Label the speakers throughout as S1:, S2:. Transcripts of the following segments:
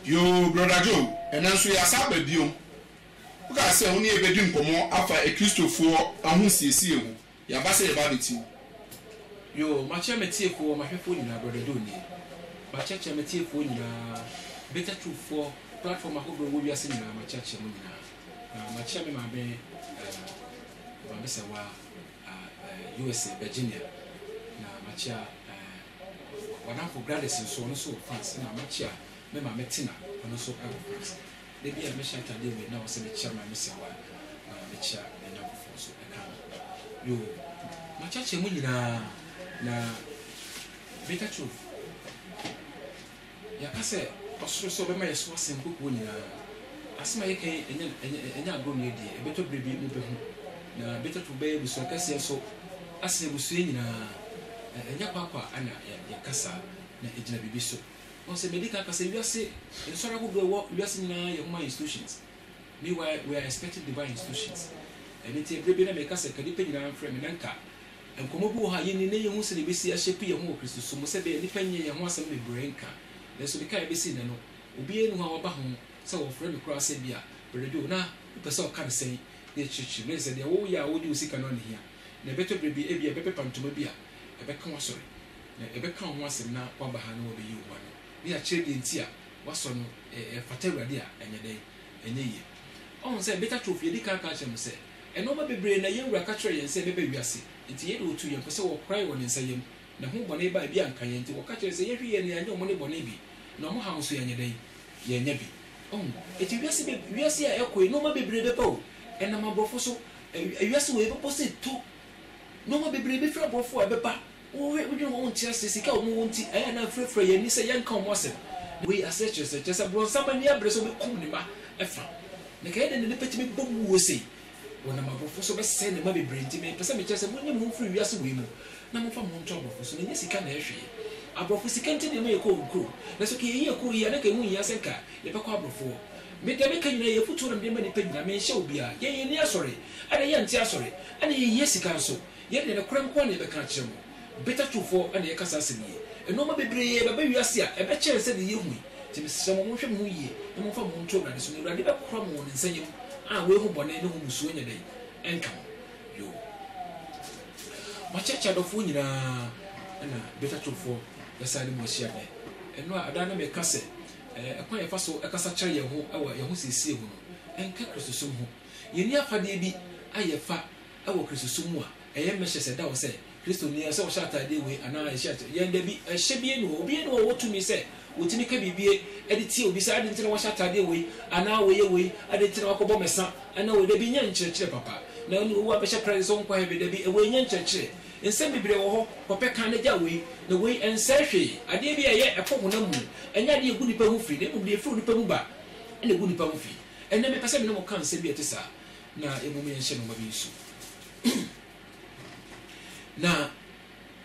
S1: Yoo Brɔda Joe, ɛnnɛ nso yɛasan aba biom. Wokaa sɛ wo ne yɛn bɛdi nkɔmmɔ afa Akristofoɔ ahosiesie ho. Yɛaba sɛ yɛba abɛtie wo. Yoo,
S2: makyɛ m'atiefoɔ, m'ahwɛfoɔ nyinaa, Brɔda Joe nie. Makyɛkyɛ m'atiefoɔ nyinaa, Bitter Truth foɔ, platform ahodoɔ a ɛwɔ wiase nyinaa, makyɛkyɛ mo nyinaa. Na makyɛ me maame, ɛɛm, Maame Sawaa. eh, USA, Virginia, na makyea eh, w'adamfo Gladys nso, ɔno nso wɔ France, na makyea me maame Tina, ɔno nso wɔ France. Da bi a mehyɛ atadeɛ wei na wɔsɛ mekyea ma me sɛ wa, na mekyea n'anyamfofoɔ nso ɛka ho. Yoo, makyeakyea mu nyinaa, na Baker Truth, Yɛaka sɛ ɔsoro sɛ ɔbɛma yɛn so asen nkokoɔ nyinaa. Asɛm a yɛka yi nyɛ agorɔ nni deɛ, ɛbɛtɔ berɛ bi mobɛhu. Na Betafo bɛyɛ abusua kɛseɛ nso asen abusua nyinaa. Ɛnyɛ kwaakwa na yɛka saa, na ɛgyina biribi so. Wahu sɛ madi kan aka sɛ wiase nsɔre ahodoɔ a ɛwɔ wiase nyinaa yɛ human institutions. Meanwhile, we are expecting divine institutions. Ɛno nti, berɛ bi na meka sɛ ka nnipa nyinaa mfrɛ me na nka. Nkɔmmɔ bi wɔ hɔ a yenni na yenhu sɛnea yebesi ahyɛpe yɛn ho wɔ Kristosom mu. Sɛ ɛbɛyɛ a nnipa nyɛ yɛn ho asɛm bebree nka, nanso de kan a ebesi nnɛ no, obiara nni hɔ a waba ho sɛ wɔfrɛ no koraa sɛ ebia, Brɛda bi o, na wopɛ sɛ ɔka no sɛn na ɛkyerɛkyerɛ mu. Ɛyɛ sɛ deɛ woyɛ a wode wo sika no ara na ehia. Na ɛbɛtɔ bere bi, ebia ɛbɛpepa ntoma bi a ɛbɛka w'asɔre, na yɛbɛka wo ho asɛm na woaba ha na wɔabeyi wo ho ano, na yɛakyerɛ deɛ enti a woasɔ no, ɛfata Awurade a, ɛnyɛ dɛn? Ɛnyɛ yiye. Woahu sɛ, bitter truth, yɛadi kan aka akyerɛ mo sɛ, Nnoɔma bebree na yɛn Wura ka kyerɛɛ yɛn sɛ ɛbɛba wiase, enti yei de wɔtuu yɛn fo sɛ wɔkorae wɔ Ne nsa yam, na ho bɔne baa bi a anka yɛn nti wɔka kyerɛɛ sɛ yɛnhwe yɛn na yɛanyɛ wɔn ne bɔne bi, na wɔn haw nso yɛanyɛ dɛn? Yɛannya bi. Wahu? Enti wiase bɛ, wiase a ɛkɔ yi, nnoɔma bebree bɛba o, ɛnam aborɔfo so, ɛ, wiase wei bɛbɔ sɛ tu, nnoɔma bebree bɛfiri aborɔfo a ɛbɛba, Wohwɛ wodwene ho a wonte ase sika a wɔn wɔ nti ɛyɛ a na afirafira yɛn ani sɛ yɛnka wɔn asɛm. Wei ase kyerɛ sɛ kyerɛ sɛ bronsam ani abere sɛ ɔbɛkum ne mma ɛfa. Na ɛka yɛ dɛn na nipa tumi bom wuo sei? Wɔnam aborɔfo so bɛsɛe ne mma bebree nti me pɛ sɛ me kyerɛ sɛ monyi mo ho mfiri wiase wei mu na momfa mo ho nto aborɔfo so na ɛnyɛ sika na ɛhwee. Aborɔfo sika nti na ɛma yɛkɔ wɔn kuro na sɛ ka yɛyi yɛn kuro yi a na ka ɛho nhia sɛ nka yɛbɛkɔ aborɔfo hɔ. Me deɛ meka nyinaa yɛ afutuo na mede ma nipa nyinaa menhyɛ obiara. Yɛn yɛn ani asɔre ɛna yɛnte asɔre ɛna yɛhia sika nso. Yɛn deɛ nokorɛ nko ara na yɛbɛka akyerɛ mo. Bitter truthfoɔ na yɛka saa asɛm yi. Nnoɔma bebree bɛba wiase a ɛbɛkyɛn sɛdeɛ yɛhu yi, nti mesrɛ mo monhwɛ mo ho yie na momfa mo ho nto Awurade so na Awurade bɛkora mo wɔ ne nsa yam a wei ho bɔne ne ho mmusuo nyɛ dɛn? ɛnka mo. Yoo. Moakyerɛkyerɛ adɔfoɔ nyinaa ɛna bitter truthfoɔ bɛsan ne mo ahyia nnɛ. Ɛno a ɛda a na meka sɛ ɛkwan a yɛfa so kasa kyerɛ yɛn ho wɔ yɛn ho siesie ho no, ɛnka Kristosom ho. Yɛnni afadeɛ bi a yɛfa Wɔ Kristosom mu a, ɛyɛ mmɛhyɛ sɛ ɛda hɔ sɛ Kristoni sɛ ɔhyɛ ataadeɛ wei anaa ɛhyɛ ataadeɛ wei. Yɛn da bi, ɛhyɛ bi nni hɔ. Obiara nni hɔ a ɔwɔ tumi sɛ ɔtumi ka biribi de tia obi sɛ adɛn nti na woahyɛ ataadeɛ wei anaa woyɛ wei, adɛn nti na woakɔbɔ mmɛsa anaa wei. Da bi, nyɛ nkyerɛkyerɛ papa. Na ɛno de, woabɛhyɛ Christ sɛ ɔnkɔ heaven. Da bi, wei nyɛ nkyerɛkyerɛ. Nsɛm bebree wɔ hɔ, kɔpɛ kan na gyae wei na wei. Ɛnsɛe hwee. Adeɛ bi a ɛyɛ ɛkɔ honam mu. Ɛnyɛ adeɛ a ɛgu nnipa ho fi na mmom deɛ ɛfiri onipa mu ba na ɛgu nnipa ho fi. Ɛnnɛ, mepɛ sɛ me ne mo ka nsɛm bi a ɛte saa. na mmom yɛnhyɛ nnoɔma bi nso na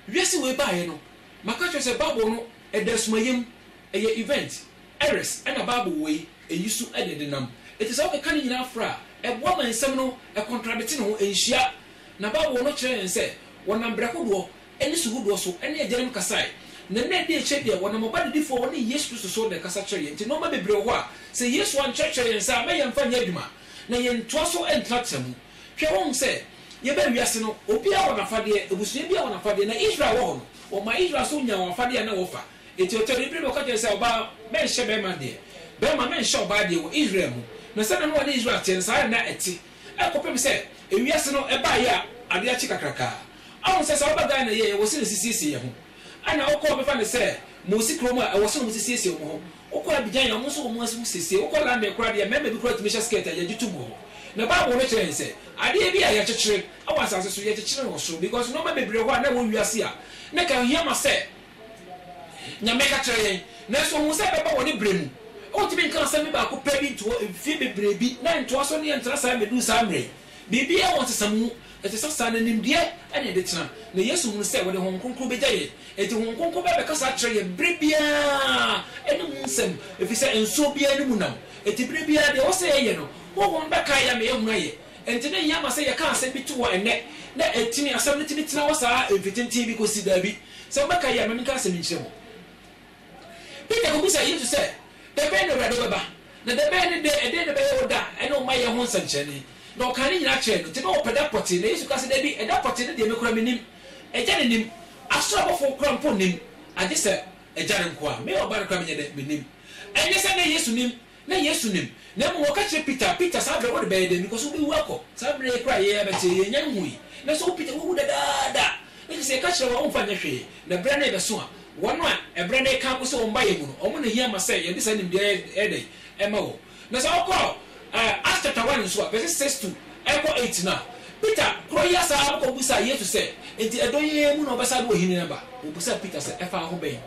S2: wiase wei baeɛ no maka kyerɛ sɛ bible no ɛda asumayɛ mu ɛyɛ event ɛres ɛna bible wei ɛyi so ɛne de nam ɛti sɛ wokeka ne nyinaa fra a ɛboa ma nsɛm no ɛkontradete ne ho ɛnhyia na bible no kyerɛ yɛn sɛ wɔnam brɛkodoɔ ne su hodoɔ so ne agyanom kasae, na nna adi akyire deɛ, wɔnam ɔba didifo a ɔne Yesu Kristo so na ɛkasa kyerɛɛ yɛn. Enti nnoɔma bebree wɔ hɔ a, sɛ Yesu ankyerɛkyerɛ yɛn saa a, na yɛmfa nyɛ adwuma, na yɛntoa so ntenatena mu. Hwɛ, woahu sɛ yɛbaa wiase no, obiara wɔ n'afadeɛ, abusua biara wɔ n'afadeɛ. Na Israel wɔ hɔ no, wɔmaa Israel nso nyaa wɔn afadeɛ a na wɔfa. Enti ɔtɔre bere bi ɔka kyerɛɛ no sɛ, Ɔbaa, mɛnhyɛ bɛrima deɛ, bɛrima, mɛnhyɛ ɔbaa deɛ wɔ Israel mu. Na sɛdeɛ na wɔne Israel teɛ no, saa ara na na ɛte kɔpem sɛ ewiase no ɛbaeɛ a adeɛ akye kakrakaa. Ahu sɛ sɛ ɔba Ghana yie a ɛwɔ se ne sisiesie yɛ ho ɛna wokɔ a bɛfa no sɛ mosi kurom a ɛwɔ se ɔmo sisiesie ɔmo ho wokɔ Abidjan a ɔmo nso wɔ ɔmo ho sisiesie wokɔ London koraa deɛ mɛɛma bi koraa tumi hyɛ skirt a yɛgye tom wɔ hɔ na bible no kyerɛ yɛn sɛ adeɛ bi a yɛkyekyere ɛwɔ asase so yɛkyekyere no wɔ soro because nnoɔma bebree wɔ hɔ a na ɛwɔ wiase a na ɛka hia ma sɛ Nyame ka kyerɛ yɛn nanso ɔhu sɛ ɛbɛba wɔ ne berɛ mu wontumi nka asɛm bi baako pɛ bi ntoɔ mfie bebree bi na ntoa so ne yɛntena saa mmɛduru saa mmerɛ yi. Biribiara wɔ nsesa mu. Ɛte sɛ saa, na nimdeɛ na ɛde tena. Na Yesu hunu sɛ wɔde Honhom Kronkron begya yɛn. Enti Honhom Kronkron bɛba abɛkasa akyerɛ yɛn bere biara ne mu nsɛm, efisɛ nsow biara ne mu nam. Enti bere biara deɛ ɛwɔ sɛ yɛyɛ no, Honhom no bɛkae yɛn ama yɛahunu ayɛ. Enti na ehia ma sɛ yɛka asɛm bi to hɔ ɛnnɛ, na atumi, asɛm no tumi tena hɔ saa mfe tenten bi kosi, Dabi, sɛ mobɛkae a, ma menka asɛm nkyerɛ mo. Peter kobisaa Yesu sɛ, Dɛbɛn na Awurade wobɛba? Na dɛbɛn ne dɛ? Ɛdeɛn na ɛbɛyɛ wo da ne wo mayɛ ho nsɛnkyerɛnne? Na ɔkaa ne nyinaa kyerɛɛ no. Nti na wɔpɛ da pɔtee. Na Yesu kaa sɛ, Dabi, ɛda pɔtee no deɛ me koraa mennim. Agya no nim. Asoro abɔfoɔ koraa mpo nnim, agyesɛ Agya no nkoaa. Me Ɔba no koraa menyɛ dɛ? Mennim. Ɛnyɛ sɛ na Yesu nim Na Yesu nim, na mmom ɔka kyerɛ Peter, Peter, saa berɛ wode bɛyɛ dɛn? Because wobɛwu akɔ. Saa berɛ yi koraa a yei abɛkye yi, yɛnnya nhui. Nanso wo Peter, woawu dadaada. Ɛfiri sɛ yɛka kyerɛɛ wo a, womfa nyɛ hwee, na ɛberɛ no rebɛso a, wɔn a ɛberɛ no reka akosi wɔn mma yɛn mu no, wɔn na ɛhia ma sɛ yɛde saa nimdeɛ yi yɛ dɛn? Ɛma wɔn. Na sɛ wokɔ Acts chapter one nso a, verses six to ɛkɔ eight no a, Peter korɔ yi asan akɔbisaa Yesu sɛ, Enti ɛdɔn yi ara mu na wobɛsan de w'ahennie no aba? Ɔbisaa Peter sɛ, Ɛfa wo ho bɛn?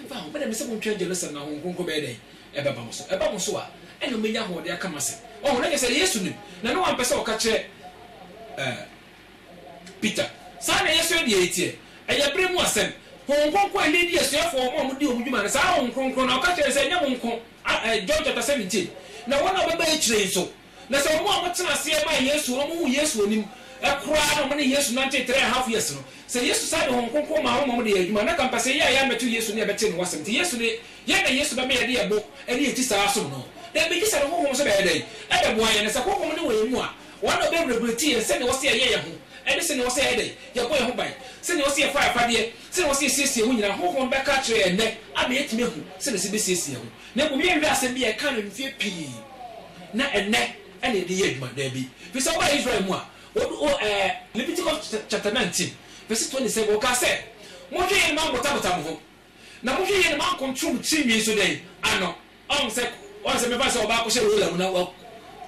S2: Ɛmfa ho, mede mese montwɛn Jerusalem na Honhom Kronkron bɛyɛ dɛn? Ɛbɛba mo so. Ɛba mo so a, ɛnna mobɛnya ahoɔden aka m'asɛm. Wahu? Na kyerɛ sɛ, Yesu nim, na na wampɛ sɛ ɔka kyerɛ, ɛɛ, Peter. Saa na yɛn nso yɛn deɛ yɛteɛ. Ɛyɛ bere mu asɛm. Honhom Kronkron a ɛleadi asuafoɔ wɔn a wɔdi wɔn dwuma no, saa ara Honhom Kronkron no, ɔka kyerɛ no sɛ, ɛnyɛ mo nko, a, ɛɛ, John chapter seventeen, na wɔn a wɔbɛba akyire yi nso, Na sɛ wɔn a wɔtena aseɛ maa Yesu, wɔn a wɔhuu Yesu anim koraa na wɔne Yesu nantee trɛɛ half years no, sɛ Yesu san de Honhom Kronkron maa wɔn ma wɔde yɛɛ adwuma a, na anka mpɛsɛ yɛ a yɛammɛto Yesu ne yɛbɛtee Ne ho asɛm nti, Yesu de, yɛn na Yesu bɛma yɛde yɛn bo ne yɛn ti saa asom No? Dabi, gye sɛ Ne Honhom nso bɛyɛ dɛn? Ɛbɛboa yɛn. Na sɛ Honhom no wɔ yɛn mu a, Ɔno na ɔbɛregulate yɛn sɛdeɛ ɔsɛ yɛyɛ yɛn ho ne sɛdeɛ ɔsɛ yɛyɛ dɛn, yɛbɔ yɛn ho ban, sɛdeɛ ɔsɛ yɛfa yɛn afadeɛ, sɛdeɛ ɔsɛ yɛsiesie yɛn ho nyinaa, Honhom no bɛka akyerɛ yɛn nnɛ ama yɛatumi ahu sɛdeɛ ɛsɛ bɛsiesie yɛn ho. Na mmom yɛnhwɛ asɛm bi a yɛkaa no mfe pii na ɛnnɛ na yɛde yɛ adwuma, dabi. Fi sɛ wobaa Israel mu a, wɔde o ɛɛ Leviticus chapter nineteen verse twenty seven, wɔkaa sɛ, Monhwɛ yie na moanbotabota mo ho, na monhwɛ yie na moankontoro mo tiri nwi nso dɛn? ano. Ɔho sɛ, ɔho sɛ mɛfa sɛ ɔbaa kɔhyɛ roller mu na wa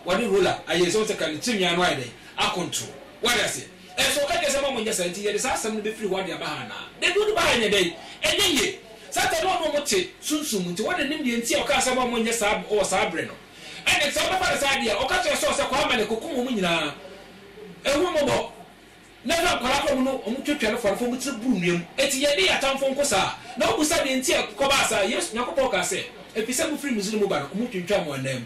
S2: wɔde roller ayɛ sɛ ɔho sɛ ka ne tiri nwi ano ayɛ dɛn? akontoro. Wate aseɛ? Nanso ɔka kyerɛ sɛ mma wɔnyɛ saa, enti yɛde saa asɛm no befiri hɔ de aba ha anaa? Dabi, wode ba ha nyɛ dɛn? Ɛnyɛ yie. Satan ne ɔno wɔte sunsum mu, enti wɔn na ɛnim deɛ nti a ɔkaa sɛ mma wɔnyɛ saa wɔ saa bere no. Ɛnde, sɛ wobɛfa no saa deɛ a, ɔka kyerɛɛ Saul sɛ, Kɔ Amalek kɔkum wɔn nyinaa. Ɛho mmɔbɔ. Na ɛfa nkwadaa koraa mu no, wɔtwatwa no fam, fa wɔn tiri boro nnua mu. Enti yɛne yɛn atamfo nko saa. Na wobisa deɛ nti a ɛkɔbaa saa a, Yesu, Nyankopɔn kaa sɛ, Ɛfiri sɛ mofiri Misraim ba no, wɔtwintwaa mo ananmu.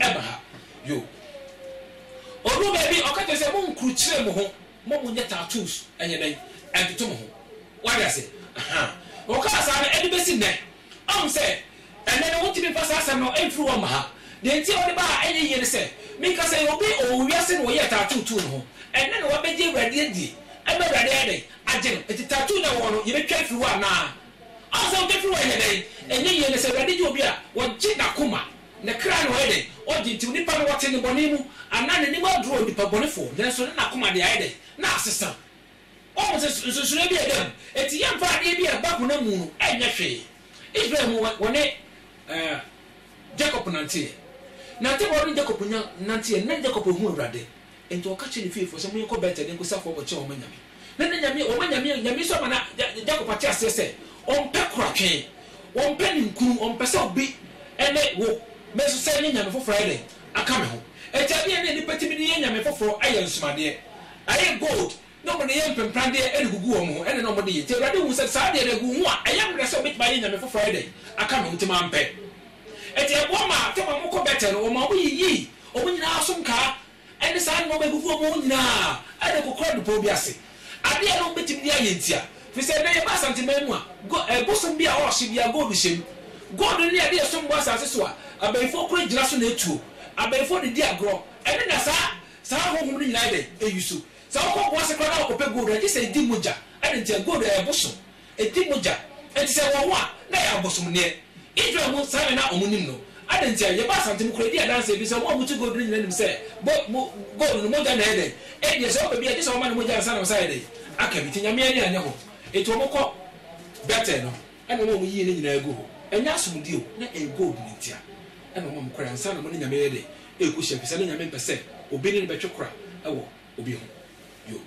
S2: ɛba ha yoo Ɔduru baabi ɔka kyerɛ sɛ monkrukyire mo ho mma monyɛ tattoos ɛnyɛ dɛn ɛntoto mo ho Wate ase ahaa Ɔkaa saa no ɛde bɛsi nnɛ Ɔhu sɛ ɛnnɛ no wontumi mfa saa asɛm no mfiri hɔ mma ha Deɛ nti a ɔde baa a ɛnyɛ yie ne sɛ Meka sɛ obi ɔwɔ wiase na ɔyɛɛ tattoo too ne ho Ɛnnɛ na wabɛgye Awurade adie ɛma Awurade ayɛ dɛn agye no Enti tattoo no a ɛwɔ hɔ no yɛbɛtwa afiri hɔ anaa Ɔhu sɛ wotwa firi hɔ a ɛnyɛ dɛn ɛnyɛ yie Na sɛ Awurade gye obi a ɔgye n'akoma Ne kra na ɔyɛ dɛn? Ogye, nti onipa no wɔte nnebɔne mu, anaa n'anim aduru onipabɔnefo, nanso ne na koma de ayɛ dɛn? Na asesa. Wahu sɛ nsonsonoe bi a ɛda mu. Enti yɛmfa adeɛ bi a ɛba honam mu no nyɛ hwee. Israel mu wɔ ne Jakob nanteɛ. Nantebɔ ne Jakob nya nanteɛ, na Jakob ahu Awurade. Enti ɔka kyerɛɛ ne fiefoɔ sɛ, Monkɔ Betel nkɔsi afɔrebɔ kyerɛ wɔn anyame. Na na nyame, wɔn anyame, nyame nso ama na Jakob ate aseɛ sɛ, Wɔmpɛ koratwe, wɔmpɛ ninkunu, wɔmpɛ sɛ obi ne wo, me nso sɛ ɛnyɛ nyame foforɔ ayɛ dɛn aka me ho. Enti adeɛ a na nnipa tumi de yɛ nyame foforɔ ayɛ nsomadeɛ, ayɛ gold na wɔde yɛ mpemprandeɛ de gugu wɔn ho, ɛnna na wɔde yɛ, enti Awurade huu sɛ saa deɛ no agu wo ho a, ɛyɛ mmerɛ sɛ wobɛtumi ayɛ nyame foforɔ ayɛ dɛn? aka no, enti mampɛ. Enti ɛboa maa sɛ wɔn kɔ Betel no, wɔmaa wɔyiyii wɔn nyina ara so nkaa ne saa nnoɔma a ɛgugu wɔn ho nyina ara de kɔkoraa bepɔ bi ase. Adeɛ a na wɔbɛtumi de ayɛ nti a, firi sɛ ɛnnɛ yɛba Asanteman mu a, go, ɛɛ, bosom bi a wɔhye biara gold hyɛ mu. Gold no ne adeɛ a ɛsom bo asase so a abayifoɔ kura gyina so na ɛtuo, abayifoɔ de di agorɔ, ɛno na saa, saa ahonhom no nyina ara yɛ dɛn? Ɛyi so. Sɛ wokɔ po ase koraa na wokɔpɛ gold a, gye sɛ edi mogya. Adɛn ntia? Gold yɛ bosom. Edi mogya. Enti sɛ ɛwɔ hɔ a, na ɛyɛ abosomdeɛ. Israel mu saa na na wɔnim no. Adɛn ntia? Yɛba Asante mu koraa, edi adanse bi sɛ wɔn a wɔtu gold no nyinaa nim sɛ bo, mo, gold no, mogya na ɛyɛ dɛn? Ebia sɛ wɔpɛ bi a, gye sɛ wɔma no mogya ansa na wɔsan ayɛ dɛn? Aka bi. Enti Nyame ani anyɛ ho. Enti wɔkɔ Betel no. ɛna ɔma wɔn yiye no nyinaa gu hɔ, ɛnyɛ asomdwoe o, na ɛyɛ gold no ntia ɛna ɔma wɔn kɔre ansa na wɔne Nyame yɛ dɛ? ɛrekohyia, efisɛ na Nyame mpɛ sɛ obi ne no bɛtwe kora wɔ obi ho. Yoh.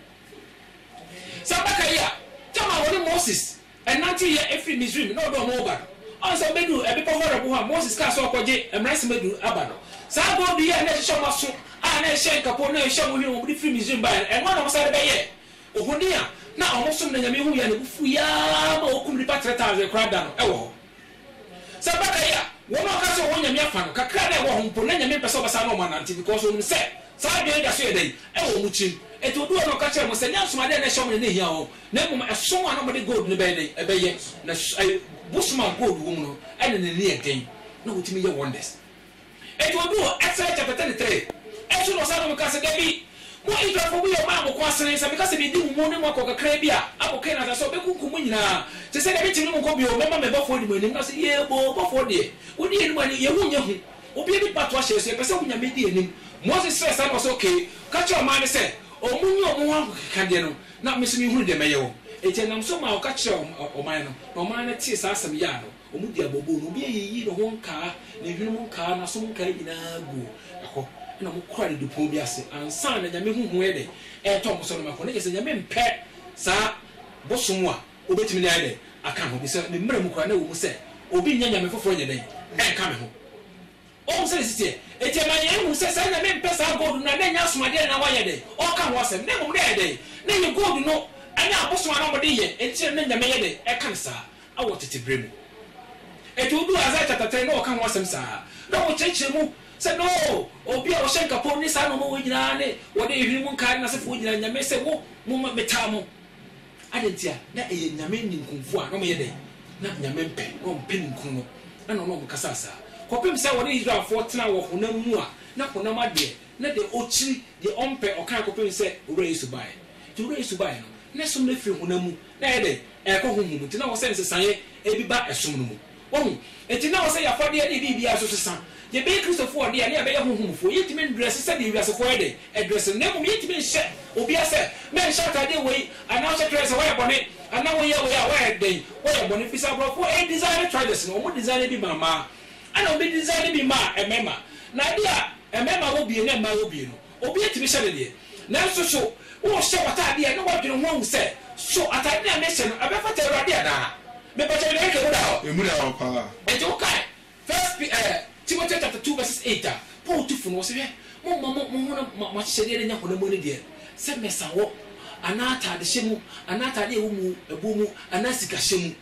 S2: Saa adaka yi a Jam a wɔne Moses nantew yɛ firi Misraim na ɔde wɔn reba no, ansa wobeduu ɛbepɔ Horeb ho a Moses kaa sɛ ɔrekɔgye Mmara Nsɛm Adu no aba no, saa gold yi a na ɛhyehyɛ wɔn aso a na ɛhyɛ nkapo na ɛhyɛ wɔn hwene wɔn de firi Misraim bae no, ɛno ara na wɔsan de bɛyɛɛ Ohoni a na wɔsom no anyame hui a ne bo fuwii araa ma wokum nnipa 3,000 koraa da no wɔ hɔ. Sɛ ɛba da yi a, wɔn a wɔka sɛ wɔwɔ nyame afa no, kakra a na ɛwɔ hɔ mpo, na nyame mpɛ sɛ ɔbɛsan ne wɔn anante because wɔnim sɛ saa adwene yi da so yɛ dɛn? Ɛwɔ wɔn tirim. Enti oduu hɔ na ɔka kyerɛɛ wɔn sɛ, Nyansom ade a na ɛhyɛ wɔn no na ehia wɔn, na mmom ɛsom a na wɔde gold no bɛyɛ dɛn? Ɛbɛyɛ. Na bosom a gold wom no, ɛne no ne yɛ den, na wotumi yɛ wonders. Enti odu hɔ Exodus chapter thirty three ɛso na ɔsan nom ka sɛ, Dabi, mo Israelfoɔ mo yɛ ɔman a mo ko asene, sɛ meka sɛ medi mo mu ne mo akɔ kakraa bi a abɔ Kaanan asase so a mɛkunkum mo nyina ara te sɛ deɛ mekyem ne mo nkɔ bio, mɛma me bɔfoɔ adi mo anim, na ɔse, Yee boo, bɔfoɔ deɛ wodi yɛn anim a ne yɛn ho nyɛ hu, obiara nni patoa hyɛɛ so, yɛpɛ sɛ wo Nyame di yɛn anim. Moses srɛɛ saa na ɔse, Ok, ka kyerɛ ɔman no sɛ ɔmo nyi ɔmo ho ahokekadeɛ no na me nso menhunu deɛ mɛyɛ wɔn. Enti ɛnam so maa ɔka kyerɛɛ ɔman no, na ɔman no tee saa asɛm yaa no. Wɔn di abooboo no, obi ayiyi ne ho nkaa, ne hwenem nkaa, n'asom nkaa nyinaa gu hɔ, ɛnna wɔkura didipon bi ase ansa na Nyame ho hu yɛ dɛ ɛretɔ wɔn so no mako. Na kyerɛ sɛ Nyame mpɛ saa bosom a wobetumi de ayɛ dɛ aka ho, efisɛ ne mmara mu koraa na ɛwɔ mu sɛ, Obi nyɛ nyame foforo nyɛ dɛn nka me ho. Wahu sɛnea ɛsi teɛ? Enti ɛma yehu sɛ saa Nyame mpɛ saa gold no a na ɛnyɛ asomadeɛ na na wayɛ dɛn ɔreka ho asɛm, na mmom na ɛyɛ dɛn? Na ɛyɛ gold no ne abosom a na wɔde yɛ, enti na na Nyame yɛ dɛn ɛka no saa? wɔ tete bere mu. Enti woduu Isaiah chapter three na wɔka ho asɛm saa na wɔkyerɛkyerɛ mu sɛ no obi a ɔhyɛ nkapɔn ne saa nnoɔma wei nyinaa ne wɔde ehwene mu nkae ne n'asefo wei nyinaa nyame sɛ mo mo ma metaa mo. Adɛn nti a na ɛyɛ nyame ninkunfo a na wɔyɛ dɛn na nyame mpɛ na wɔmpɛ ninkunu no na na ɔne wɔn kasaa saa kɔpem sɛ wɔne Israelfoɔ tenaa wɔ honam mu a na honam adeɛ na deɛ ɔkyiri deɛ ɔmpɛ ɔkae kɔpem sɛ Owura Yesu baeɛ. Nti Owura Yesu baeɛ no ne som no firi honam mu Na ɛyɛ dɛ, ɛrekɔ honhom mu, ntsi na ɔwɔ sɛ nsesaeɛ bi ba som no mu. Wahu? Ntsi na ɔwɔ sɛ y'afadeɛ ne biribiara so sesa. Yɛbɛyɛ Kristofoɔ ɔde a, na yɛabɛyɛ honhomfoɔ. Yɛntumi ndrɛse sɛdeɛ ewiasefoɔ yɛ dɛ ɛdrɛse no, na mmom yɛntumi nhyɛ obia sɛ, Mɛnhyɛ ataadeɛ wei, anaa hyɛ kyerɛ sɛ woayɛ bɔne, anaa woyɛ wei a woayɛ dɛn, woayɛ bɔne. Ɛfiri sɛ aborɔfoɔ ɛyɛ designer trousers no, wɔn designer bi maa mmaa, ɛna wɔn designer bi maa mmarima. Na adeɛ a mmarima wɔ bie na mmaa wɔ bie no, Obiara tumi hyɛ ne deɛ. Nanso so worehyɛ w'atadeɛ a, na woadwene ho ahu sɛ, 'So atadeɛ no a merehyɛ no, ɛbɛfata Awurade anaa? Mepatwa me deɛ ɛretwa mu da hɔ? Ɛmu da hɔ paa.
S1: Enti wokae
S2: First Pe eh, Timoteo chapter two verses eight a Paul tu fo no? Ɔse, Hwɛ, momma mo, mo honam, mo ahyehyɛdeɛ no nyɛ honam mu anideɛ, sɛ mɛsa wɔ, anaa atadehyɛ mu, anaa atadeɛ a ɛwɔ mu, ɛboɔ mu, anaa sikahyɛ mu.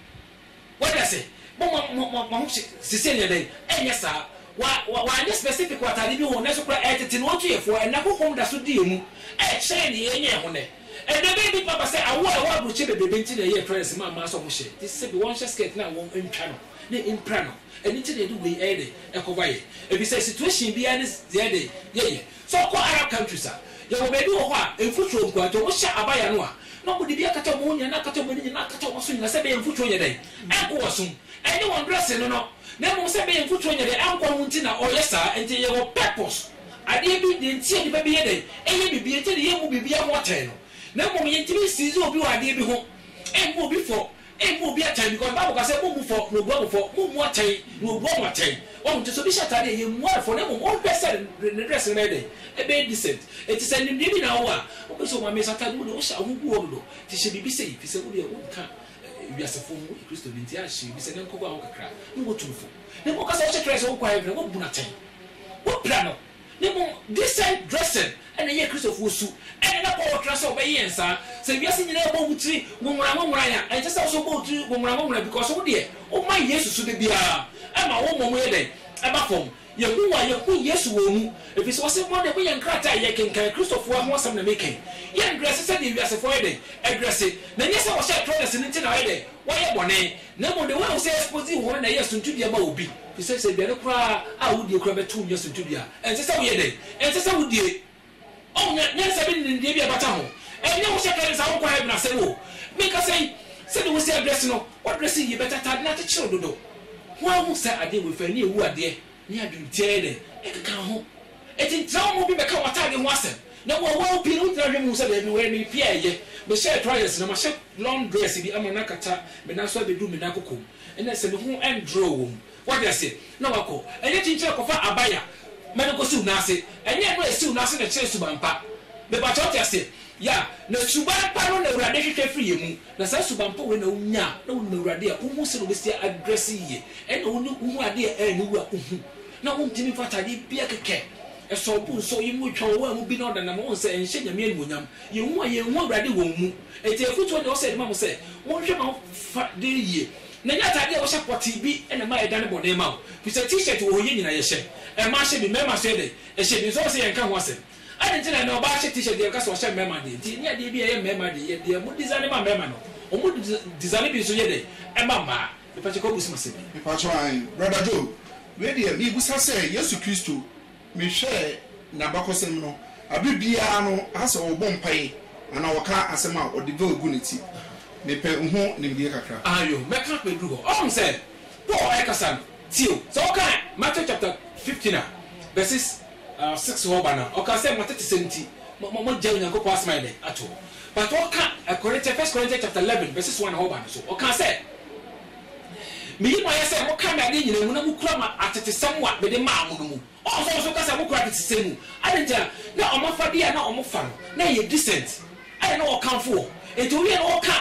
S2: Wanya sɛ, mo mo mo mo mo ho hye sisi ɛnyɛ dɛn? Ɛnyɛ saa. Wa wa wanyɛ specific wɔ ataade bi ho, nanso kura ɛɛtete no otu yɛ foɔ. Ɛnna hohom da so di emu, ɛɛkyɛn nea yɛn nyɛɛ ho nnɛ. Ɛnna ɛbɛyɛ bi papa sɛ awoɔ a ɛwɔ aburokyire bebrebe nti na ɛyɛɛ trends maa mmaa sɛ wɔn hyɛ te sɛ bi wɔn hyɛ skirt na wɔn ntwa no ne mpira no. Ɛno nti na yɛde wei ɛyɛ dɛn ɛkɔva yɛ, ɛfiri sɛ situation biara ne deɛ ɛyɛ dɛn yɛyɛ. Sɛ wɔkɔ Arab countries a, yɛwɔ baabi wɔ hɔ a, mfuturo nkoa nti, wɔhyɛ abaya no a, na wɔde bi akata wɔn ho nyinaa, na akata wɔn ani nyinaa, na akata wɔn aso nyinaa, sɛ ɛbɛyɛ a mfuturo nyɛ dɛn? Ɛnko wɔn asom. Ɛnyɛ wɔn dressing no no, na mmom sɛ ɛbɛyɛ a mfuturo nyɛ dɛn? Ɛnkɔ ho nti na wɔyɛ saa. Ɛnti yɛwɔ purpose, adeɛ bi, deɛ nti a nnipa bi yɛ dɛn? Ɛyɛ biribi, ɛnti na yɛmmu biribiara ho atɛn no, na mmom yɛntumi nsiizi obi wɔ adeɛ bi ho, ɛmmu obi fɔ, Ebu obi atɛn because bible ka sɛ mobu fɔ na obua mo fɔ, mommu atɛn na obua mo atɛn. Wahu? Nti sɛ obi hyɛ ataade a, yɛmmu no fɔ na mmom ɔnhwɛ sɛ ne dress no bɛyɛ dɛn? Ɛbɛyɛ decent. Nti sɛ nimdeɛ bi na wowɔ a, wobɛhu sɛ Owamesi ataade mu deɛ wohyɛ a, wo ho gu hɔ dodo. Nti hyɛ biribi sei, efisɛ wo deɛ wonka wiasefo ho, woyɛ Kristoni, nti ara hyɛ biribi sɛ nɛnkɔ gu a ho kakra na wɔatu no fɔ. Na mmom ka sɛ wohyɛ Christ a, wonkɔ heaven a, wɔabu no atɛn. Wopira no. Na mmom, decent dressing na ɛyɛ Kristofo su. Ɛnde na Paul tra sɛ ɔbɛyɛ yɛn saa. Sɛ wiase nyinaa rebɔ wo tiri nwonworanwonworan a, ɛnsɛ sɛ wo nso wobɔ wo tiri nwonworanwonworan because wo deɛ, woma Yesu su da biara. Ɛma wo mmom yɛ dɛn? Ɛba fam. Yehu wo a, yehu Yesu wɔ wo mu. Efisɛ ɔse, Mo de, moyɛ nkrataa a yɛrekenkan. Kristofo ara ho asɛm na mereka yi. Yɛndrɛse sɛdeɛ wiasefo ayɛ dɛn? Adrɛse. Na ɛnyɛ sɛ wɔhyɛɛ Troilus no nti na wayɛ dɛn? Wayɛ bɔne. Na mmom deɛ woahu sɛ ɛyɛ papa dzi hɔn na ɛyɛ suntudua ma obi, firi sɛ, sɛ aduane koraa a wodie koraa bɛto wo nya suntudua a, ɛnsɛ sɛ woyɛ dɛn? Ɛnsɛ sɛ wodie. Ɔho nya, nyansa bi ne nimdeɛ bi a ɛbata ho. Ɛnyɛ wo sɛ kane saa wonkɔ heaven asɛm o. Mekasa yi, sɛdeɛ wo sɛ adrɛse no, woadrɛse yie, but atade no akyekyere wo dodo. Hwan hu saa adeɛ wei fa ani awu adeɛ? ne adwentɛɛ na ɛkeka ho. Enti ntrɛwmu mu bi bɛka w'atade ho asɛm, na wɔawaw pii no wogyina hwɛ mu hu sɛ dabi, wɔyɛ me pia a ɛyɛ. Mehyɛɛ trousers na mahyɛ long dress bi ama no akata me nan so abedu me nan koko mu. Ɛnna sɛ me ho nndraw wɔ mu. Wate ase? Na wakɔ. Ɛnyɛ kyenkyere kɔfa abaya ma no nkosiw nan ase. Ɛnyɛ ɛno a esiw nan ase na ɛkyerɛ suban pa. Mepakyɛ wo te aseɛ? Yeah. Na suban pa no na Awurade hwehwɛ firi yɛn mu. Na saa suban pa wei na wo nya a na wo nim Awurade a wo hu sɛdeɛ wo bɛ si a dresse yie ɛna wo ne wo hu adeɛ a ɛyɛ ne wu a wo hu na wo ntimi mfa ataadeɛ bia kɛkɛ ɛsɔ wo bo nsɔ wo yam na wo twa wo wɔ a mu bi na ɔda nam wo nsɛ ɛnhyɛ Nyame animuonyam yɛ hu a yɛn hu Awurade wɔ wo mu ɛti afutuo deɛ ɔsɛ yɛde ma mo sɛ mo nhwɛ ma wo fa deɛ yie na nyɛ ataadeɛ a wo hyɛ pɔtee bi ɛna ɛma ɛdane bɔne ma wo fisɛ t-shirt wɔ hɔ yɛ nyina yɛ hyɛ ɛma hyɛ bi mɛma so yɛ dɛ ɛhyɛ bi nso ɔsɛ yɛn ka ho asɛm. Adɛn nti na ɛnnɛ ɔbaa hyɛ t-shirt deɛ ɔka sɛ ɔhyɛ mmarima deɛ nti ɛnyɛ adeɛ bi a ɛyɛ mmarima deɛ yɛ deɛ mo design ma mmarima no ɔmo design bi nso yɛ dɛn ɛma mmaa mepakyɛ kɔ busom asɛm bi. Mepakyɛ ae
S1: brother Joe wei deɛ mebusa sɛ Yesu Kristo mehwɛ nabakɔsɛm no abre biara no asɛ ɔbɔ mpae anaa ɔka asɛm a ɔde veil gu ne ti mepɛ ho nimdie kakra. Ayo mɛka mɛduru
S2: hɔ ɔhom sɛ Paul ɛkasa no tie o sɛ wokan Matthew chapter fifteen a verses Ah, six hɔ ba no, ɔka sɛ, M'atetesɛm nti, mo, mo, moagyae Onyankopɔn Asɛm ayɛ dɛn? Ato hɔ. But ɔka Korintia, First Corinthians chapter eleven, verses one hɔ ba no so, ɔka sɛ, Meyi mo ayɛ sɛ mokae me adeɛ nyinaa mu na mokura mo atetesɛm a mede maa mo no mu. Ɔɔ, so nso ɔka sɛ mokura atetesɛm mu. Adɛn nti a? Na wɔn afadeɛ a na wɔfa no, na ɛyɛ decent, ɛna na wɔkamfo wɔn. Enti ɔwiee no, ɔka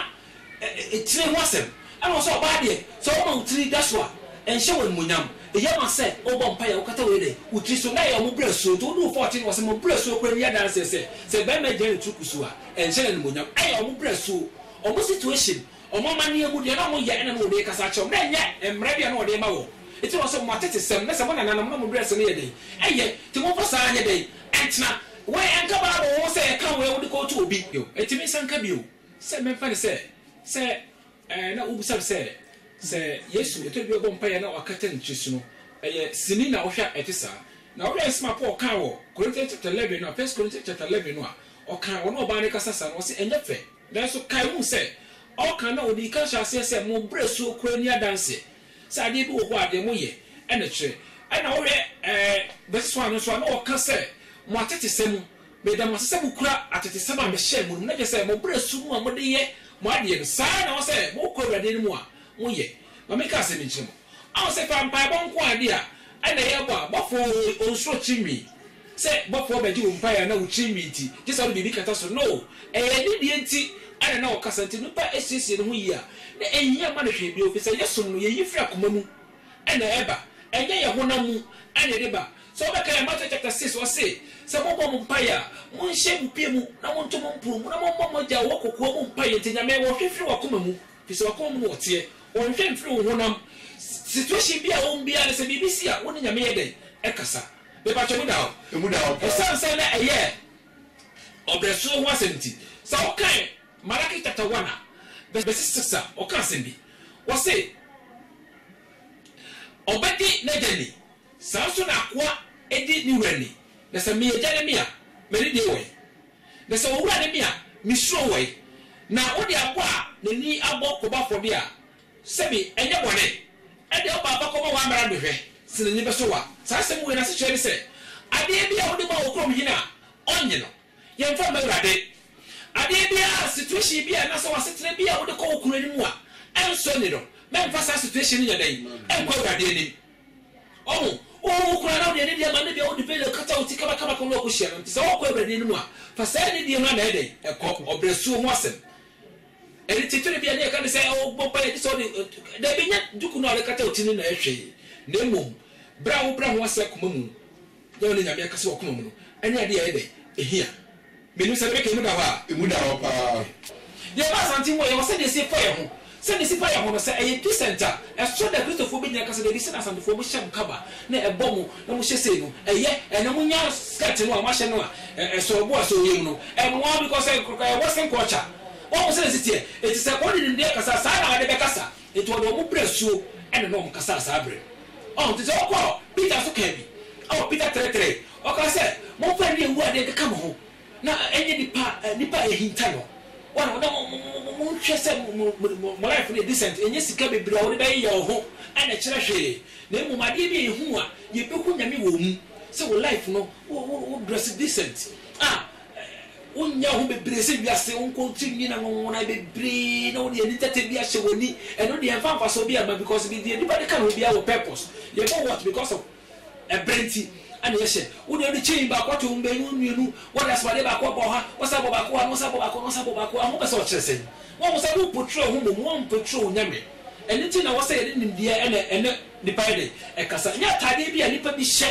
S2: tiri ho asɛm. Ɛna ɔwɔ sɛ ɔbaa deɛ, sɛ wɔma wo tiri da so a, ɛnhyɛ wo animuonyam. Eye ma sɛ wobɔ mpaeɛ a, wokata wo yɛ dɛn? Wo tiri so. Nnɛ yɛwɔ mo berɛ suo, nti wode wo fɔɔkye no wɔ ase. Mo berɛ suo koraa ni adanseɛ sɛ, sɛ barima gyina ne tiri kusuu a, ɛnhyɛ no animuonyam. Ɛyɛ wɔn berɛ suo, wɔn situation, wɔn amanneɛ mu deɛ na wɔyɛ ɛna na wɔde rekasa akyerɛ wɔn. Na ɛnyɛ mmara bi a na wɔde rema wɔn. Nti na ɔwɔ sɛ mo atetesɛm, na sɛ mo nananom na mo berɛɛse no yɛ dɛn? Ɛyɛ. Nti momfa saa nyɛ dɛn? Ɛntena. Wei ɛnka Bible ho sɛ ɛka wei a wode kɔɔto obi. Ɛtumi nsa nka bio. Sɛ memfa no sɛ, sɛ ɛɛ na wobisa me sɛ, sɛ Yesu, ɛtɔ da bi a ɔbɔ mpaeɛ na wakata ne tiri so no, ɛyɛ sini na wohwɛ a ɛte saa? Na wohwɛ nsɛm a Paul kaa wɔ Corinthians chapter eleven no a, First Corinthians chapter eleven no a, ɔkaa ɔne ɔbaa no rekasa saa no, ɔse ɛnyɛ fɛ. Nanso kae hu sɛ, ɔreka no na ɔdii kan hyɛɛ aseɛ sɛ, Mo berɛ so koraa nni adanseɛ sɛ adeɛ bi wɔ hɔ a deɛ moyɛ na ɛkyerɛ. Ɛna wohwɛ ɛɛ verse one no nso a, na ɔka sɛ, Mo atetesɛm Meda mo ase sɛ mokura atetesɛm a mehyɛɛ mo no mu, na kyerɛ sɛ mo bere so mu a mode yɛ mo adeɛ no, saa ara na ɛwɔ sɛ mokɔ Awurade anim a moyɛ. Ma menka asɛm bi nkyerɛ mo. Ahu sɛ fa mpaebɔ nko ara de a, ɛna yɛbɔ a, bɔfoɔ oo, onsuro tirinwi, sɛ bɔfoɔ bɛgye wo mpaeɛ a na wo tirinwi nti, gye sɛ wode biribi kata so. No, ɛyɛ ne deɛ nti ɛna na ɔkasa. Nti onipa siesie ne ho yie a, na ɛnhia mma no hwee bio, firi sɛ yɛsom no, yɛyi firi akoma mu. na ɛba, ɛnyɛ yɛn honam mu na ɛde ba. Sɛ wobɛkae a, Matthew chapter six, ɔse, Sɛ mobɔ mo mpaeɛ a, monhyɛ mo pie mu, na monto mo mpono mu, na mommɔ mo Agya a ɔwɔ kokoa mu mpaeɛ nti Nyame ɔhwɛ firi w'akoma mu, firi sɛ w'akoma mu na ɔteɛ, ɔnhwɛ mfiri wo honam situation bi a wowɔ mu biara no, sɛ biribi si a, wo ne Nyame yɛ dɛn? Ɛkasa. Mepakyɛ emu da hɔ? Emu da hɔ paa. Ɛsiane sɛ na ɛyɛ ɔbrɛsoɔ ho asɛm nti, sɛ wokae. Malaki chapter one a bɛsi six a ɔka asɛm bi, ɔse, Ɔbɛdi n'agya ni, saa ara nso na akoa di ne wura ni, na sɛ meyɛ agya ne me a, m'ani gye wɔ he? Na sɛ owura ne me a, misuro wɔ he? Na wode aboa a n'ani abɔ kɔbɔ afɔdeɛ a, sɛbe ɛnyɛ bɔne? Ɛdeɛ wode aba kɔma w'amrado no hwɛ, sɛ n'ani bɛsɔ wo a? Saa asɛm wei no asekyerɛ ne sɛ, adeɛ bi a wode ma wo kuromhene a, ɔnnye no. Yɛmfa mma Awurade. Adeɛ biara, situation bi a anaasɛ w'asetena bi a wode kɔ wo kunu anim a ɛnsɔ ani no, mɛmfa saa situation no nyɛ dɛn? Ɛnkɔ Awurade anim. Ɔho, wohu wo kunu anaa wode anidie ma no bi a wode veil akata wo ti kamakama kɔ na wakɔhyia no nti sɛ wokɔ Awurade anim a, fa saa anidie no ara na ɛyɛ dɛn? Ɛkɔ. Ɔbrɛsuo ho asɛm. Ɛde titire bi a na yɛka ne sɛ ɔbɔ mpaeɛ gye sɛ ɔde, dabi nyɛ duku no a wode kata wo ti no na ɛyɛ hwee na mmom berɛ a wobrɛ ho ase akoma mu. Dɛn na Nyame akasa wɔ koma mu no? Ɛnyɛ ade a ɛyɛ dɛ, ehia. Minnim sɛdeɛ mɛka, emu da hɔ a. Emu da hɔ paa.
S1: Yɛn ba Asante
S2: wɔ yɛ wɔ sɛdeɛ ɛsɛ fa yɛ ho. Sɛdeɛ ɛsɛ fa yɛ ho no, sɛ ɛyɛ Chrisent a, ɛsɔ dɛ Kristofoɔ bɛgyina ka sɛ, Dabi, sɛdeɛ Asantefoɔ mohyɛ mo kaba na ɛbɔ mo na mohyɛ sei no, ɛyɛ. Ɛnna monya skirt no a moahyɛ no a ɛsɔ bo a ɛsɔ wo yam no. Ɛmmoa because ɛyɛ Western culture. Woahu sɛdeɛ ɛsɛ teɛ? Enti sɛ wode nimdeɛ kasa a, saa ara na wɔde bɛkasa. Enti wɔde wɔn brɛɛ asuo ɛna na wɔkasaa saa berɛ no. Ɔho nti sɛ ɔkɔɔ Peter so kaa bi a Peter trɛtrɛe, ɔkaa sɛ, Momfa nni awu adeɛ nkeka mo ho, na ɛnyɛ nipa a nipa a ɛhinta no. Wɔn a na monhwɛ sɛ mo life no yɛ decent, ɛnyɛ sika bebree a wode bɛyeyɛ wo ho na ɛkyerɛ hwee, na mmom adeɛ bi a ɛhu a yɛbɛhu Nyame wɔ mu, sɛ wo life no wo dress decent a Wo nyɛ ho bebree sɛ wiase wo nko ti nwini na nwonwonae bebree na wode ani tɛtɛ bi ahyɛ wani ɛno deɛ ɛnfa mfasoɔ biaa mma because bi deɛ nipa de ka ne ho biaa wɔ purpose yɛ bɔ watch because of ɛbrɛ nti ɛna yɛ hyɛ wo deɛ wode chain baako ato wo mmienu mmienu wode asomadeɛ baako abɔ ha wo san bɔ baako ha na wo san bɔ baako na wo san bɔ baako ha ho pɛ sɛ ɔkyerɛ sɛn wahu sɛ wo portray wo ho mmom wa mportray wo nyame ɛno nti na wɔ sɛ yɛde nimdeɛ ɛna ɛne nipa yɛ dɛn ɛkasa nyɛ ataadeɛ bi a nipa bi hyɛ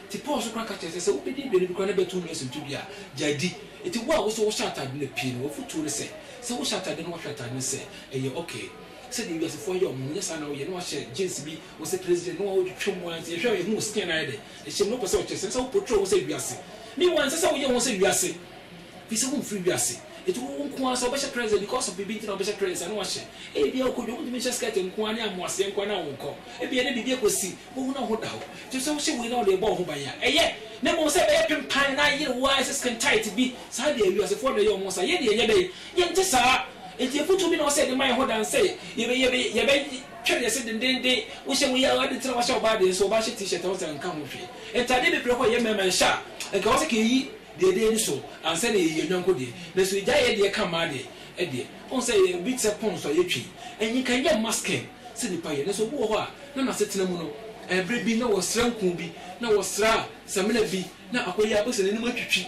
S2: Enti Paul nso koraa ka kyerɛɛ sɛ, sɛ wobedi aduane bi koraa na ɛbɛto wo nua sintɔ bi a, gyae di. Enti wo a wo nso wohyɛ atade no pii no, w'afotuo ne sɛ, sɛ wohyɛ atade na woahwɛ atade no sɛ ɛyɛ ok, sɛdeɛ wiasefo ayɛ wɔn no, nyɛ saa na woyɛ na woahyɛ jeans bi, wo se president na wotwitwa mu ara nti yɛhwɛ a yɛhu wo skin no ayɛ dɛ, ɛhyɛ mu no wopɛ sɛ ɔkyerɛ sɛ ɛnsɛ sɛ wo portray wo ho sɛ wiase. Meanwhile ɛnsɛ sɛ woyɛ wo ho sɛ wiase firi sɛ womfiri wiase. Enti wo nko ara sɛ wobɛhyɛ trends a because of biribi nti na wobɛhyɛ trends a na woahyɛ. Ebia wokɔ dwa a wontumi nhyɛ skirt nko ara ne amoaseɛ nko ara na wonkɔ. Ebia ɛde biribi akɔsi Wohu na wo ho da hɔ. Enti sɛ wohyɛ wei na wode rebɔ wo ho ban a, ɛyɛ. Na mmom sɛ ɛbɛyɛ pempan na ayere wo ara, ɛsɛ skin tight bi, saa deɛ wiasefoɔ na ɛyɛ wɔn saa. Yɛn deɛ ɛnyɛ dɛn? Yɛnte saa. Enti afotuo bi na ɛwɔ sɛ yɛde ma yɛn ho dan sɛ yɛbɛ, yɛbɛ, yɛbɛtwɛre yɛn se dendeenden. Wohyɛ wei a, adɛn nti na woahyɛ ɔbaa deɛ? Sɛ ɔbaa hyɛ t-shirt a, wo sɛ ɛnka ho hwee. Ntadeɛ bebree wɔ hɔ a ɛyɛ mmarima nhyɛ a, anka ɛwɔ sɛ kɛyi deɛ ɛda yɛn ani so ansa na yɛyi yɛn yɔnko deɛ. Nanso yɛgyae yɛn deɛ ka mmaa deɛ. Ɛdeɛ, wohu sɛ ɛyɛ bi te sɛ pɔnso a yɛtwi. Ɛnyi, nka ɛnyɛ mma skin. sɛ nnipa yɛ. Nanso obi wɔ hɔ a, na n'asetena mu no, bere bi na wɔsra nku bi, na wɔsra samina bi, na akɔyɛ a, wobɛhu sɛ n'anim atwitwi.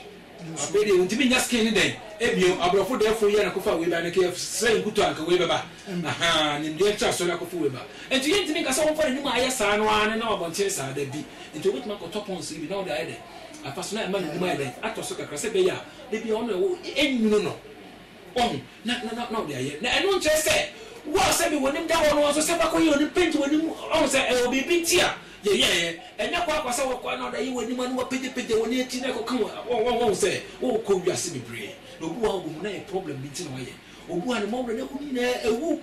S2: Afei deɛ ɔntumi nnya skin no dɛn bio. Aborɔfo dɛɛfo yi ara na ɛkɔfaa wei bae. Anka yɛsrɛɛ nkutoo a, anka wei bɛba. Ahaa, nimdeɛ ntraso na akɔfa wei ba. Enti yɛntumi nka sɛ wɔmfa n'anim a ayɛ saa no ara na ɛnam abɔnten saa. Dabi. Enti wobɛtumi akɔtɔ pons no bi na wode ayɛ dɛn? Afa so na ɛma n'anim ayɛ dɛn? Atɔ so kakra, sɛ ɛbɛyɛ a da biara ɔno na ɛwɔ hɔ, ɛnwunu no. Wahu? Na, na, na, na ɔde ayɛ. Na ɛno nkyerɛ sɛ, wo a sɛdeɛ w'anim da hɔ no nso, sɛ woakɔyɛ w'anim paint w'anim, wahu sɛ, ɛwɔ biribi nti a yɛyɛeɛ. Ɛnyɛ kɔ ara kwa sɛ wokɔ ara na wode ayɛ w'anim na woapagyapagya w'ani akyiri na ɛkɔka wo, wahu, wahu, wahu sɛ, wokɔ wiase bebree. Na obi wɔ hɔ a, wobɛhu na ɛyɛ problem bi nti na wayɛ. Obi wɔ hɔ a, ne mmɔwerɛ, n'ahoni nyinaa awu.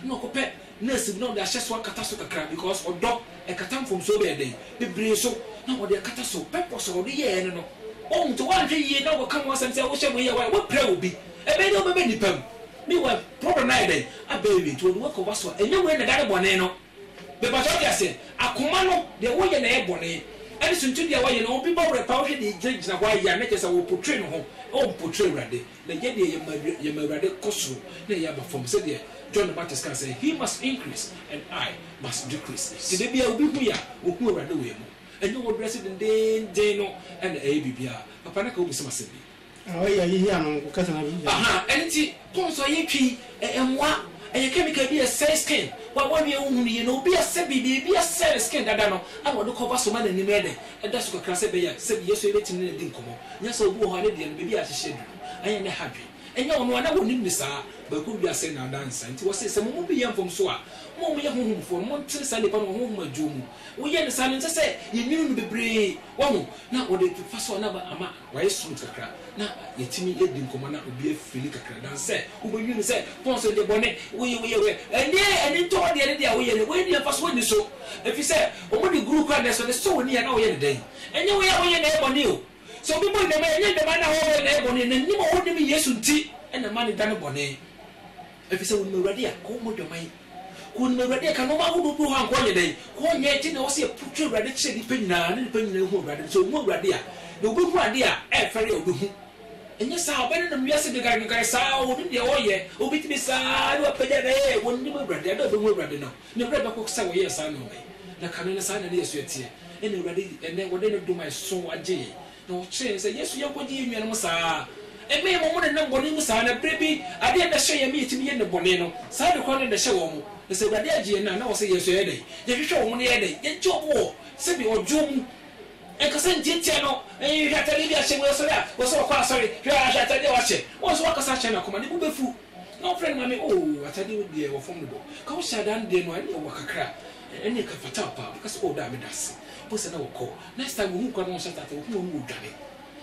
S2: Na ɔkɔpɛ nurse bi na ɔde ahyɛ so akata so kakra because ɔdɔ ɛkata mfomsoɔ bɛyɛ dɛn bebree so na ɔde akata so purpose a ɔde yɛɛ no no woahu nti woanhwɛ yie na ɔkɔka ho asɛm sɛ wohyɛ wei a woayɛ woapira obi ɛbɛyɛ dɛn wobɛba nnipa mu meanwhile problem no ayɛ dɛn abɛɛwie nti ɔde wo akɔ w'aso a ɛnyɛ wei na ɛda ne bɔne no Mepatwa wo te aseɛ? Akoma no, deɛ woyɛ na ɛyɛ bɔne, ɛne suntidua a woayɛ no, obi bɔ werɛ paa, wohwɛ deɛ gyinagyina hɔ a ɛyɛ a, na kyerɛ sɛ ɔrepotre ne ho, ɛwɔ mpotre Awurade, na yɛ deɛ yɛma yɛma Awurade kɔ soro na yɛn aba fam, sɛdeɛ John the Baptist kaa sɛ, He must increase and I must decrease. Nti da biara obi hu yɛ a, ɔhu Awurade wɔ yɛn mu. Ɛnyɛ wo dresse dendeenden no na ɛyɛ biribiara. Papa na ka wobisa me asɛm bi. A ɔyɛ a yehia no nko
S3: kɛse na yɛn. Aha ɛno nti
S2: pons a yɛtwa yi ɛmoa ɛyɛ chemical bi a ɛsɛe skin wa bɔ wie wohu no yie na obi a sɛbi biribi asɛe ne skin dada no ɛna ɔde kɔba so ma nanim yɛ dɛ ɛda so kakra sɛ ɛbɛyɛ a sɛbi yɛso yɛbɛtumi ne no adi nkɔmɔ nyɛ sɛ obi wɔ hɔ a ne deɛ no baabi a yɛahyehyɛ aduru no ɛnyɛ ne ha dwen ɛnyɛ ɔno a na wɔnim ne saa bɛkɔ wiase nnaadaa nsa nti wɔse sɛ mo mu bi yɛ mfomso a mo a moyɛ honhomfoɔ no montene saa nipa no wɔ honhom adwuo mu woyɛ no saa no ɛnsɛ sɛ yɛnwene no bebree wahu na wɔde fa so a na ama Wayɛ smooth kakra na yɛtumi yɛdi nkɔmmɔ na obi afili kakra than sɛ wobɛdwiri no sɛ Paul sɛ deɛ bɔne woyɛ woyɛ woyɛ ɛnneɛ ani ntɔ wo deɛ ne deɛ woyɛ no woanni mfasoɔ nni so ɛfiri sɛ wɔn de guru kora nɛso de sɔ w'ani a na woyɛ no dɛn ɛnyɛ woyɛ a woyɛ na ɛyɛ bɔne o sɛ obi bɔ nnɛmaa ɛnyɛ nnɛmaa na wɔyɛ na ɛyɛ bɔne na nim a wɔnnim Yesu nti na ɛma ne da no bɔne. Efisɛ wonim Awurade a, ka wɔn mogya ma yɛn. Ka wɔnim Awurade a, ka nnoɔma ahodoɔ bi wɔ hɔ a nka ɔnyɛ dɛn, ka ɔnyɛ, enti na ɛwɔ sɛ yɛpokyere Awurade kyerɛ nnipa nyinaa, na nnipa nyinaa hu Awurade no. Sɛ wɔhu Awurade a, na wɔbɛhu adeɛ a ɛmfɛre a wɔbɛhu. Ɛnyɛ saa a, ɔbɛnenam wiase dwenkadwenkade saa a, ɔnim deɛ ɔreyɛ, ɔbɛtumi saa ara na wapagya no, ee, wɔnnim Awurade, ɛda a wɔbɛhu Awurade no, ne werɛ bɛkɔ sɛ wɔyɛɛ saa nnoɔma yi, na kane no saa na na yɛn nso yɛteɛ, ɛna Awurade, ɛnnɛ, wɔde ne dom a ɛso agye yɛn. Na ɔkyerɛɛ no sɛ, Yɛn nso yɛnkɔgye yɛn nuanom saa ara. Ɛmmɛ yɛn ma wɔnenam bɔne mu saa, na berɛ bi, adeɛ a na ɛhyɛ yɛn ma yɛtumi yɛ nnebɔne no, saa ade korɔ no na ɛhyɛ wɔn. Na sɛ Awurade agye yɛn a, na ɛwɔ sɛ yɛn nso yɛyɛ dɛn? Yɛhwehwɛ wɔn na yɛyɛ dɛn? Yɛgye wɔn wɔ sɛdeɛ ɔdwoɔ mu, ɛnkasa ntiatia no, hwɛ atadeɛ bi a ahyɛ mu, yɛsɔre a, ɛwɔ sɛ wɔkɔ asɔre, hwɛ a, hwɛ atadeɛ a wɔahyɛ, wɔn nso wɔkasa akyerɛ no akoma, ne bo bɛfu. Na ɔfrɛ no maame oo atade wo deɛ wɔ fam bobɔ ka wo hyɛ adaa no deɛ no a ɛneɛ ɔwa kakra ɛneɛ ka fataw paa ɔbɛka sɛ oo daa meda ase mpo sɛ na wɔkɔ next time wɔhu koraa na wɔnhyɛ ataade wɔpem wɔn mu wɔdwane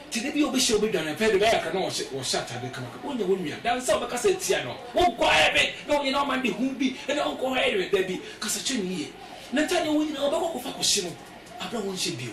S2: nti da biaa ɔbɛhyia ɔbɛdwane ɔpɛ de bɛyɛ akra na wɔhyɛ ataade kamakama wonya wo nua daa nsa ɔbɛka sɛ tia no wo kɔ ayɛ me na ɔnyɛ na ɔma nde hu bi ɛneɛ ɔnkɔ hɔ ayɛ me dabi kasa kyerɛ no yie na ntaade a ɔwɔ nyinaa ɔbɛkɔ akɔfa akɔhye no aberɛ a wɔnhyɛ bio.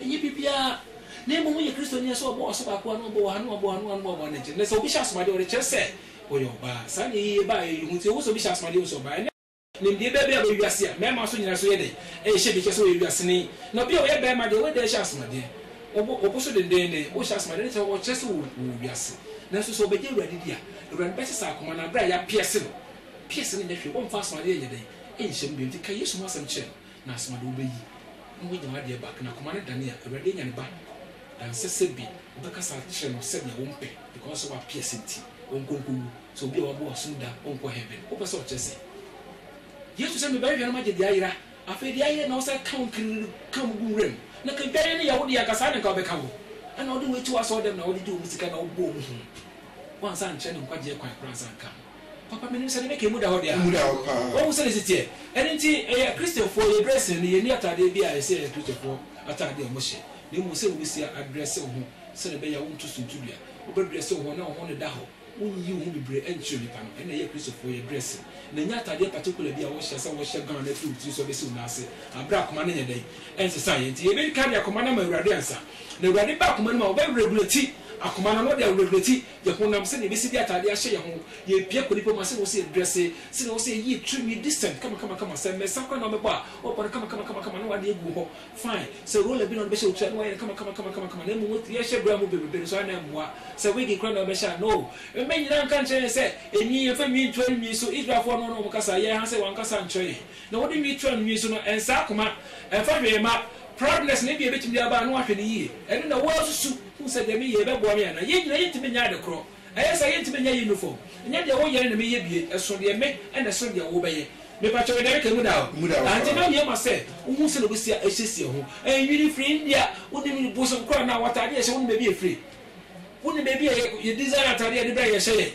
S2: Ɛnyɛ biribiara, na mmom woyɛ Kristoni a sɛ wɔbɔ w'asobaako a na wɔbɔ w'aha na wɔbɔ w'ano a na wɔbɔ w'anankyiri. Ɛnnɛ sɛ obi hyɛ asomadeɛ a, ɔrekyerɛ sɛ ɔyɛ ɔbaa. Saa na ayiyɛ baeɛ yi ho nti, ɛwɔ sɛ obi hyɛ asomadeɛ a ɛhu sɛ ɔbaa. Ɛnnɛ. Nimdeɛ bɛn bi aba wiase a mmarima nso nyina so yɛ dɛn rehyɛ bi kyerɛ sɛ wɔyɛ wiaseni? Na obi a ɔyɛ barima deɛ, wei da ɛhyɛ asomadeɛ, ɔbɔ ɔbo so denneennen, wohyɛ asomadeɛ no kyerɛ sɛ ɔkyerɛ sɛ ɔwɔ wiase. Nanso sɛ ɔbɛgye Awurade di a, Awurade bɛsesa akoma no, berɛ a yɛapiɛse no. Piɛse no nyɛ hwee, wɔmfa asomadeɛ nyɛ dɛn nhyɛ mu bio, nti ka Yesu ho asɛm kyerɛ no. Na asemade wobeyi na wanya n'adeɛ back, na akoma no dane a, Awurade anya ne ba, na nsɛ sɛ bi wobɛkasa akyerɛ no sɛdeɛ wompɛ, because sɛ woapiɛse nti, ɔnkɔ nkɔwu, sɛ obi a wabɔ w'asom da ɔnkɔ heaven, wopɛ sɛ ɔkyerɛ sɛ Yesu sɛ meba nhwɛ na magye deɛ ayera, afei deɛ ayera na wosan ka wo nkinini no ka mu gu nwura mu, na ka dwan no yɛ wo deɛ anka saa na nka wobɛka wo, ɛna wode wo atu w'asɔredɛm na wode gye wɔn sika na wobɔ wɔn hu, woansa ankyerɛ no nkwagyeɛ kwan koraa ansa anka ho. Papa, menim sɛ ne nika mu da hɔ deɛ. Emu da hɔ paa. Wahu sɛdeɛ ɛsi teɛ. Ɛno nti, yɛ Kristofoɔ, yɛ dressing no, yɛnni ataadeɛ bi a ɛsɛ Kristofoɔ ataadeɛ a wɔhyɛ, na mmom sɛ wobɛsia adrɛse wo ho sɛdeɛ ɛbɛyɛ a wonto suntudua. Wobɛdrɛse wo ho na wo ho no da hɔ. Wonyi wo ho bebree nkyerɛ nnipa no. Ɛno na ɛyɛ Kristofoɔ, yɛ dressing. Na ɛnyɛ ataadeɛ particular bi a wɔhyɛ sɛ wɔhyɛ gown afiri wo tiri so abɛsi wo nan ase, aberɛ a akoma no nyɛ dɛn? Ɛnsesaeɛ. Nti yɛbɛdi kan de akoma no ama Awurade ansa. Na Awurade ba akoma no mu a, ɔbɛ regulate akoma no, na ɔde aregulate yɛn honam, sɛnea yɛbɛsi de atade ahyɛ yɛn ho, yɛn pia kɔ nnipa mu a, sɛnea ɛwɔ sɛ yɛdrɛse, sɛnea ɛwɔ sɛ yɛyɛ tirinwi decent kamakamakama, sɛ mmɛnsa koraa na wɔbɛbɔ a, wɔbɔ no kamakamakama na wɔade agu hɔ fine, sɛ roller bi na wɔde bɛhyɛ wo ti a na wɔayɛ no kamakamakama, na mmom yɛhyɛ bra mu bebrebe no so a na ɛmmoa, sɛ wig koraa na wɔbɛhyɛ a no. Mmɛ nyinaa nka nkyerɛ yɛn sɛ nwi, yɛmfa nwi ntura nwi so, Israelfoɔ no na wɔka saa, yɛn ha sɛ wɔanka saa nkyerɛ yɛn, na wɔde nwi tura nwi so no, ɛnsa akoma, ɛmfa hwee mma, proudness na ebia ɛbɛtumi de aba a na wɔahwɛ no yie, ɛno na woasusu. Hu sɛ deɛ meyɛ yi, ɛbɛboa me anaa? Yɛn nyinaa yɛntumi nyɛ ade korɔ. Ɛyɛ saa a, yɛntumi nyɛ unifɔm. Nyɛ deɛ woyɛ no na meyɛ bie. Ɛso deɛ me na ɛsen deɛ wobɛyɛ. Mepakyɛw, yɛde ɛde ka emu daa o. Ankye na awie ma sɛ wohuu sɛdeɛ wobɛsi ahyehyɛ ho. Ɛnwini firi India. Wonim ne bosom koraa anaa? W'atadeɛ a yɛhyɛ, wonim baabi a ɛfiri? Wonim baabi a yɛ, yɛ design atadeɛ a yɛde brɛ a yɛhyɛ yɛ?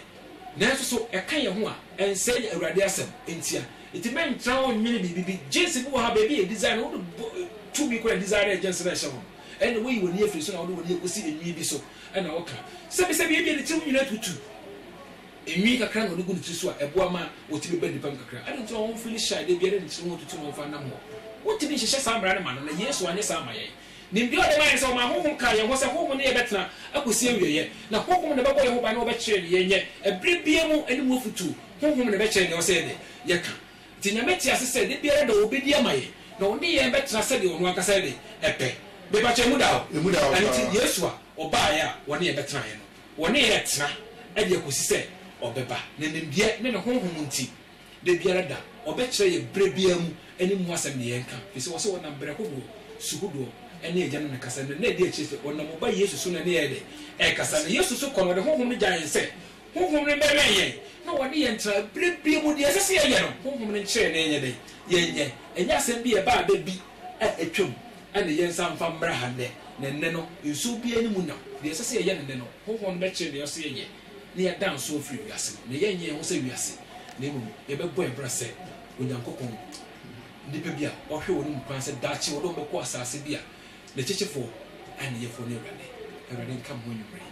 S2: Nanso so ɛka yɛn ho a, ɛnsɛe yɛn Awurade asɛm ntia? Enti mɛntra hɔ nnwene biribi bi. Jeans bi wɔ ha, baabi a yɛ design no, wode bɔ, tumi kora design no a yɛ jeans no ɛhyɛ ho no. Ɛnde woyi w'ani afiri so na wode w'ani akosi enwi bi so na woka, Sɛbesɛbe ebia ne tirim nyinaa tutu. Enwi kakra na ɔde gu ne ti so a, ɛboa ma ɔte bɛba nnipa mu kakra. Adɛn nti na wɔn mfiri ne hyɛ a da biara ne tirim ho tutu no mfa nna mu hɔ? Wontumi nhyehyɛ saa mmara no ma no, na Yesu anyɛ saa amma yɛn. Nimdeɛ a ɔde mae ne sɛ ɔmaa honhom kaa yɛn ho sɛ honhom ne yɛn bɛtena akosi awieeɛ, na honhom na ɛbɛbɔ yɛn ho ban na wɔbɛkyerɛ nea yɛnyɛ. Ɛberɛ biara mu ne mu afotuo, honhom na ɛbɛkyerɛ nea ɛwɔ sɛ yɛne yɛka. Nti Nyame te ase sɛ da biara da ɔbɛdi ama yɛn na ɔne yɛn bɛtena sɛdeɛ ɔno ankasa yɛde pɛ. Mepa kyɛw emu da o? Emu da o paa. Ɛno nti Yesu a ɔbaeɛ a ɔne yɛn bɛtenaeɛ no, ɔne yɛn retena de akɔsi sɛ ɔbɛba. Ne nimdeɛ ne ne Honhom nti, da biara da ɔbɛkyerɛ yɛn berɛ biara mu ne mu asɛm deɛ yɛnka. Ɛfiri sɛ ɔse ɔnam berɛ hodoɔ, su hodoɔ ne Agya no na ɛkasa. Na nna ɛdi akyire sɛ ɔnam ɔba Yesu so na ɛne yɛn ɛyɛ dɛ? Ɛrekasa. Na Yesu nso kɔ na ɔde Honhom no gya yɛn sɛ Honhom no bɛwɛn yɛn na wɔne yɛn tra bere biara mu. Nea ɛsɛ sɛ yɛyɛ no, Honhom no nkyerɛ yɛn na yɛnyɛ dɛn? Yɛnyɛ. Ɛnyɛ asɛm bi a ɛbaa da bi a atwam na yɛnsan mfa mmra ha nnɛ. Na ɛnnɛ no, nsuo biara nni mu nam. Deɛ ɛsɛ sɛ yɛyɛ no nnɛ no, Honhom no bɛkyerɛ nea ɛsɛ sɛ yɛyɛ na yɛada nso afiri wiase no. Na yɛrenyɛ yɛn ho sɛ wiase, na mmom yɛbɛbɔ yɛn bra sɛ Onyankopɔn nnipa bi a ɔhwɛ wɔn mu kwan sɛ daakye wɔde wɔn bɛkɔ asase bi a n'akyekyefoɔ ne ne Yɛfoɔ ne Awurade. Awurade nka mo anwummere yi.